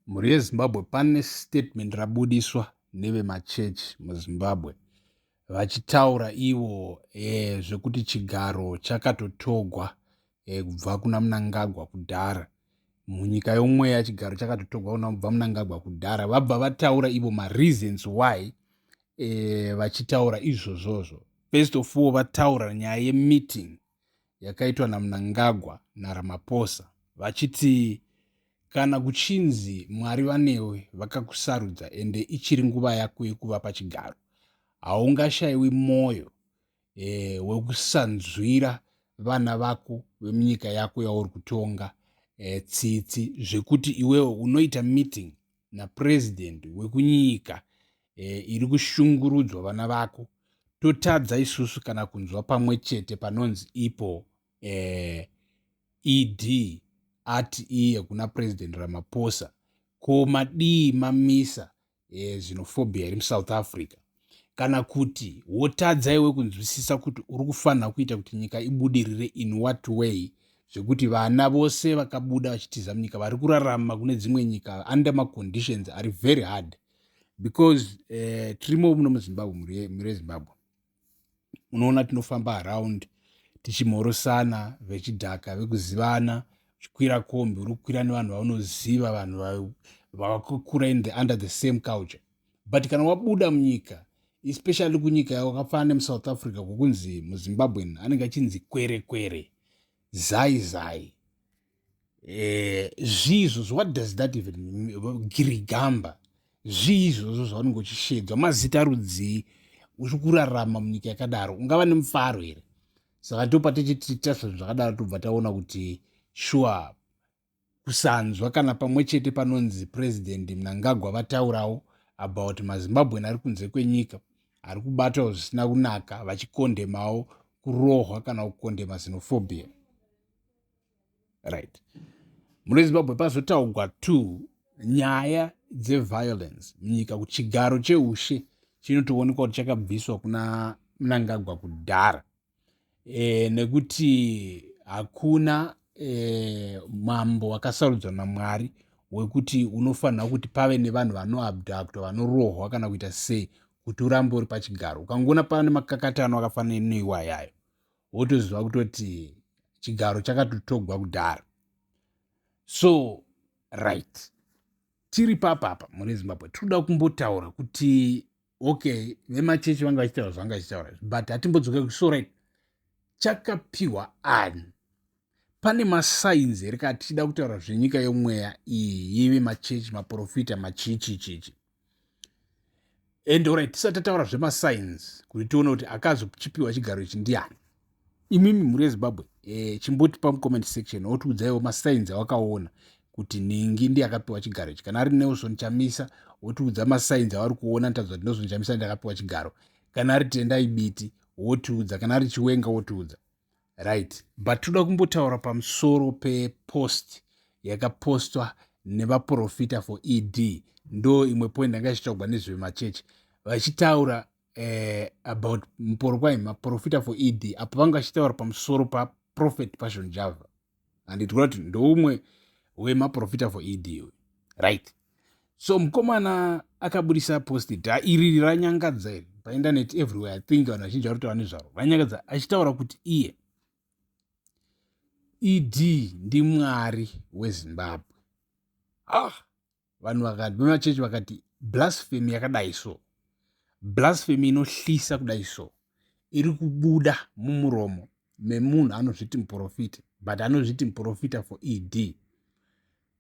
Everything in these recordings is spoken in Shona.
mhuri yezimbabwe pane statement rabudiswa nevemachechi muzimbabwe vachitaura ivo e, zvekuti chigaro chakatotogwa e, kubva kuna munangagwa kudhara munyika yomweya chigaro chakatotogwa kuna kubva munangagwa kudhara vabva vataura ivo mareasons why e, vachitaura izvozvozvo first of all vataura nyaya yemeeting yakaitwa namunangagwa naramaposa vachiti kana kuchinzi mwari vanewe vakakusarudza ende ichiri nguva yako yekuva pachigaro haungashaiwi mwoyo e, wekusanzwira vana vako vemunyika yako yauri kutonga e, tsitsi zvekuti iwewo unoita meeting napurezidendi wekunyika e, iri kushungurudzwa vana vako totadza isusu kana kunzwa pamwe chete panonzi ipo e, ed ati iye kuna president ramaphosa ko madii mamisa e, xenophobia iri musouth africa kana kuti wotadza iwe kunzwisisa kuti uri kufanira kuita kuti nyika ibudirire in what way zvekuti vana vose vakabuda vachitiza munyika vari kurarama kune dzimwe nyika under maconditions ari very hard because uh, tirimo muno muzimbabwe mhuri yezimbabwe unoona tinofamba around tichimhorosana vechidhaka vekuzivana uchikwira kombi uri kukwira nevanhu vaunoziva vanhu vakakura in the under the same culture but kana wabuda munyika especially kunyika yawakafanana nemusouth africa kwokunzi muzimbabwen anenge achinzi kwerekwere zai zai Eh, zvii izvozvo what does that even girigamba zvii izvozvo zvaunenge uchishedzwa mazita rudzii uchi kurarama munyika yakadaro ungava nemufaro here saka ndopa tichitiita zvinhu zvakadaro tobva taona kuti shuwa kusanzwa kana pamwe chete panonzi president mnangagwa vataurawo about mazimbabwen ari kunze kwenyika ari kubatawo zvisina kunaka vachikondemawo kurohwa kana kukondema xenophobia right mune zimbabwe pazotaugwa two nyaya dzeviolence munyika kuti chigaro cheushe chinotoonekwa kuti chakabviswa kuna mnangagwa kudhara e, nekuti hakuna e, mambo wakasarudzwa namwari wekuti unofanira kuti pave nevanhu vanoabductor vanorohwa kana kuita sei kuti urambe uri pachigaro ukangoona pane makakatano akafanira neiwayayo wotoziva kutoti chigaro chakatotogwa kudhara so right tiri papapa mune zimbabwe tinoda kumbotaura kuti okay vemachechi vanga vachitaura zvanga vachitaura but hatimbodzoka kuti so right chakapiwa ani pane masainzi here kaa tichida kutaura zvenyika yomweya iyi yeve machechi maprofita machichichichi and orit tisati tataura zvemasigns kuti tione kuti akazochipiwa chigaro ichi ndiani imimi mhuri yezimbabwe e, chimbotipa mucomment section wotiudzaiwo masigns awakaona kuti nhingi ndiye akapiwa chigaro ichi kana ari nelson chamisa wotiudza masigns avari kuona nitadza kuti nelson chamisa ndiye akapiwa chigaro kana ari tendai biti wotiudza kana ari chiwenga wotiudza right but toda kumbotaura pamusoro pepost yakapostwa nevaprofita for ed ndo imwe point ndanga ichitaugwa nezvemachechi vachitaura eh, about muporo kwaima profita for ed apo vanga vachitaura pamusoro paprofet passion java and tikuona kuti ndoumwe wemaprofita for ed uyu right so mukomana akabudisa posti dha iriri ranyangadza iri paindaneti everywhere i think vanhu vazhinji vari kutaura nezvaro ranyangadza achitaura kuti iye ed ndimwari wezimbabwe ah vanhu vakati vemachechi vakati blasphemy yakadai so blasphemy inohlisa kudai so iri kubuda mumuromo memunhu anozviti muprofita but anozviti muprofita for ed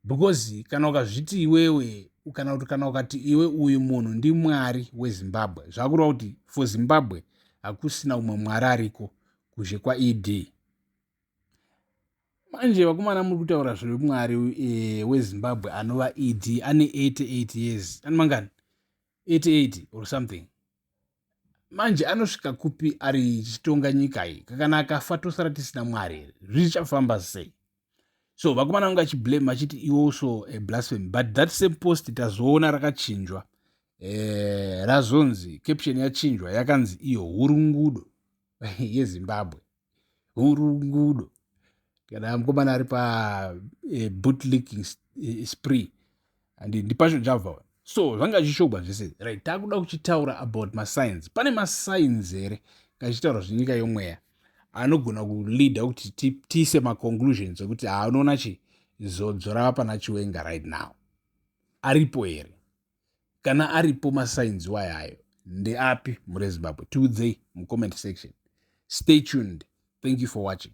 because kana ukazviti iwewe kana kuti kana ukati iwe uyu munhu ndimwari wezimbabwe zvakureva kuti for zimbabwe hakusina umwe mwari ariko kuzhe kwaed manje vakomana muri kutaura zvemwari eh, wezimbabwe anova ed ane 88 years ani mangani 88 or something manje anosvika kupi ari chitonga nyika iyi kakana akafa tosara tisina mwari here zvichafamba sei so vakomana vanga achiblame vachiti iwoso eh, blasphemy but that same post tazoona rakachinjwa eh, razonzi caption yachinjwa yakanzi iyo hurungudo yezimbabwe hurungudo kana mukomana ari pabootlicking eh, e, eh, spree and ndipasho java so zvanga zvishogwa zvese right takuda kuchitaura about mascience pane mascience here kachichitaura zvenyika yomweya anogona kuleada kuti tiise maconclusions ekuti haanoona chi zodzo rava pana chiwenga right now aripo here kana aripo masigns wayayo ndeapi murezimbabwe tiudzei mucomment section stay tuned thank you for watching